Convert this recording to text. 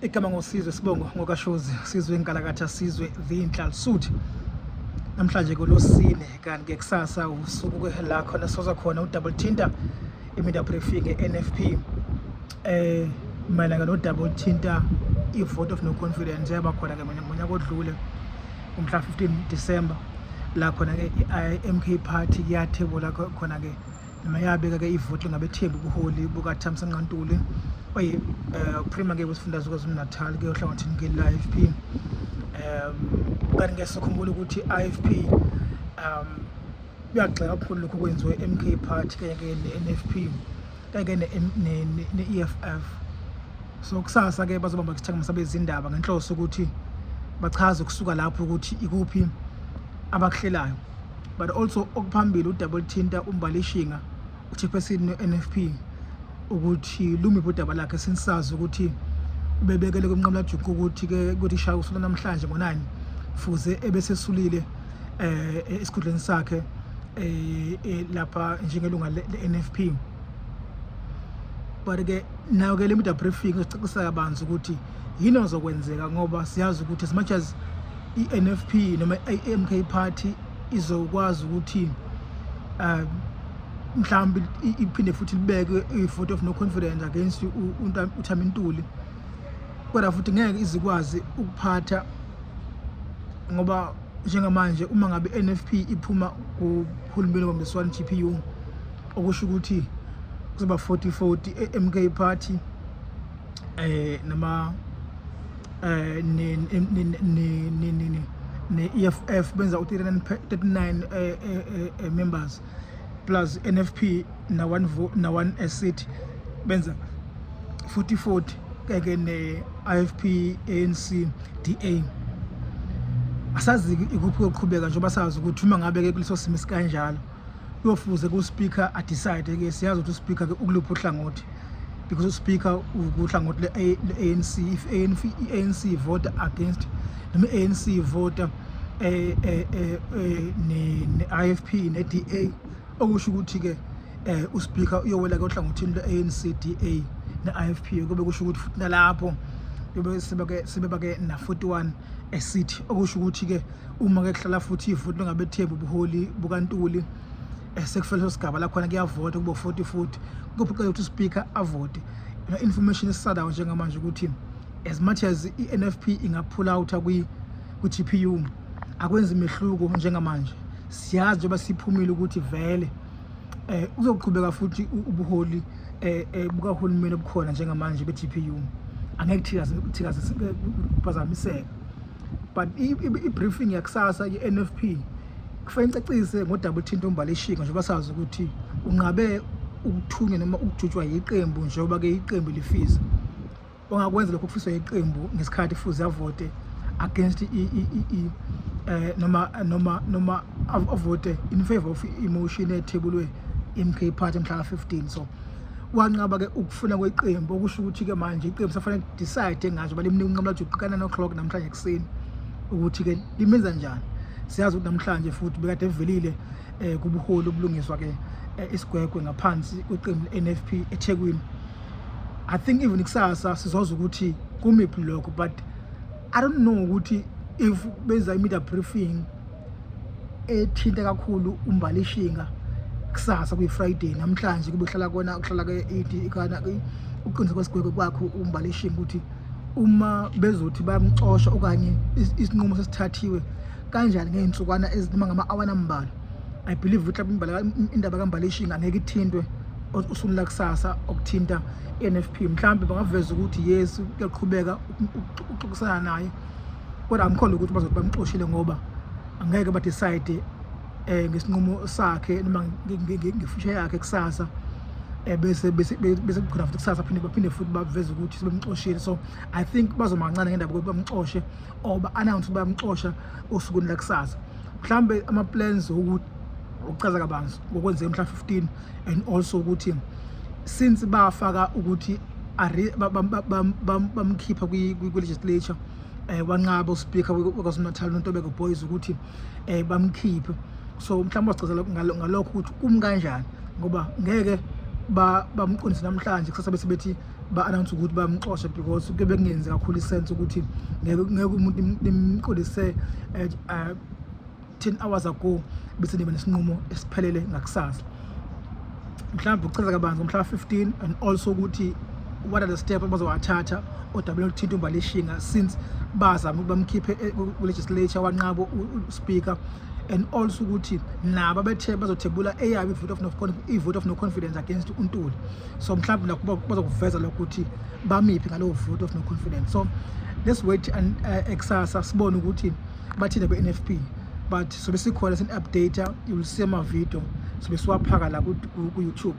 igama ngosizwe sibongo ngokashozi sizwe inkalakatha sizwe the inhlalsuthi namhlanje kolosine kanti ke kusasa usuku la khona soza khona udouble tinta iminda briefing e-nfp eh mayelana nodouble tinta i-vote of no confidence yaba khona ke ngonyaka odlule umhla 15 December la khona ke i-MK party yathebula khona ke Mayabeka ke ivoti ngabethembi ubuholi bukaThamsa Nqantuli oye eh, uprima ke wesifundazwe KwaZulu-Natal ke ohlangothini ke la-IFP um kanti ngeke sikhumbule ukuthi i-IFP um kuyagxeka kakhulu lokhu kwenziwe MK party kanye ke ne-NFP kanye ke ne-EFF so kusasa ke bazobamba isithangama sabezindaba ngenhloso ukuthi bachaze kusuka lapho ukuthi ikuphi abakuhlelayo but also okuphambili udabula thinta umbalishinga uchairperson ne-nfp ukuthi lumiphi udaba lakhe sinisazi ukuthi ubebekele kumnqamlajuqu ukuthi-ke ukuthi shaya usuku namhlanje ngonani fuze ebesesulile um eh, esikhundleni sakhe um lapha njengelunga le-nfp but-ke nayo-ke le media briefing izocacisa kabanzi ukuthi yini ozokwenzeka ngoba siyazi ukuthi as much as i-NFP noma i-MK party izokwazi ukuthi um mhlawumbe iphinde futhi libeke i-vote of no confidence against uthamintuli kodwa futhi ngeke izikwazi ukuphatha ngoba njengamanje uma ngabe NFP iphuma kuhulumeni wambiswani GPU okusho ukuthi kuzoba 40 40 e-MK party eh, nama eh, ne-EFF benza u-39 eh, eh, members plus NFP na-one na-one seat benza 40 40 keke ne-IFP ANC DA asazi ikuphi koqhubeka njengoba sazi ukuthi uma ngabe-ke kuleso simo sikanjalo kuyofuze ku-speaker adecide-ke siyazi ukuthi u-speaker-ke ukuluphi uhlangothi because u-speaker uhlangothi le-anc if i-anc ivota against noma i-anc ivota um eh, eh, eh, ne-i f p ne-d a okusho ukuthi-ke um u-speaker uyowela-ke ohlangothini lwe-anc d a ne-i f p kube kusho ukuthi futhi nalapho sebebake na-41 esithi okusho ukuthi-ke uma ke kuhlala futhi ifuthi lingabethembi ubuholi bukantuli eh, sekufela leso sigaba lakhona kuyavota kubo 40 futhi kuphoqela ukuthi uspeaker avote ina information esisadayo njengamanje ukuthi as much as i-NFP ingaphula out kwi ku-GPU akwenzi mehluko njengamanje siyazi njengoba siphumile ukuthi vele eh uzoqhubeka futhi ubuholi eh, eh bukahulumeni obukhona njengamanje be-GPU angeke thikaze thikaze kuphazamiseka but i-briefing yakusasa i-nfp kufanele icacise ngodaba oluthinta umbalishika njengoba sazi ukuthi unqabe ukuthunywa noma ukujutshwa yiqembu njengoba-ke iqembu lifisa ongakwenza lokho kufiswa yiqembu ngesikhathi kufuze avote against eh, noma noma noma avote in favor of emotion ethebulwe MK party mhla ka-15 so wanqaba-ke ukufuna kweqembu okusho ukuthi-ke manje iqembu safanele decide ngathi uba limnika unqamula ukuthi uqikana no-clock namhlanje ekuseni ukuthi-ke limenza njani siyazi ukuthi namhlanje futhi bekade evelile um eh, kubuholi obulungiswa-ke eh, isigwegwe ngaphansi kweqembu le-n f p ethekwini i think even kusasa sizozwa ukuthi kumiphi lokho but I don't know ukuthi if benza i-media briefing ethinta kakhulu umbalishinga kusasa kuyi-friday namhlanje kube kuhlala kona kuhlala uqiniseko kwesigwebo kwakho umbalishinga ukuthi uma bezothi bayamxosha okanye isinqumo sesithathiwe kanjani ngey'nsukwana ezinoma ngama-awana ambalwa i believe ukuthi indaba kambalishinga angeke ithintwe usuku lakusasa okuthinta i-n f p mhlawumbe bangaveza ukuthi yesu kuyaqhubeka ukuxoxisana naye kodwa angikholwa ukuthi bazothi bamxoshile ngoba angeke badecide um ngesinqumo sakhe noma ngefusha yakhe kusasa Eh, bese bese bese kukhona futhi kusasa phinde baphinde futhi baveze ukuthi sebemxoshile so i think bazomancane ngendaba ukuthi bamxoshe or ba-announce ukuthi bayamxosha osukwini lakusasa mhlawumbe ama-plans okuchaza kabanzi ngokwenzeka mhla 15 and also ukuthi since bafaka ukuthi bamkhipha kwi-legislature eh, um wanqaba uspeaker wekwaZulu-natal untobeko boys ukuthi um bamkhiphe so mhlawumbe wacazela ngalokho ukuthi kumi kanjani ngoba ngeke bamqondise namhlanje kusasa bese bethi ba-announce ukuthi bamxoshe because kube kungenzi kakhulu isense ukuthi ngeke umuntu nimqondise eh, 10 hours ago bese niba nesinqumo esiphelele ngakusasa mhlawumbe ukuchaza kabanzi ngomhla wa-15 and also ukuthi what are the steps abazowathatha odabeni oluthinta umbalishinga since bazama ukuthi bamkhiphe eh, kulegislature wanqabo uspeaker and also ukuthi nabo abethe bazothebula eyabo i-vote of no i-vote of no confidence against untuli so mhlawumbe nakho bazokuveza lokho ukuthi bamiphi ngalowo vote of no confidence so let's wait and uh, eh, exasa sibone ukuthi bathile kwi-nfp but sobe sikhona sin-updata you will see ama-video sobe siwaphaka la ku-youtube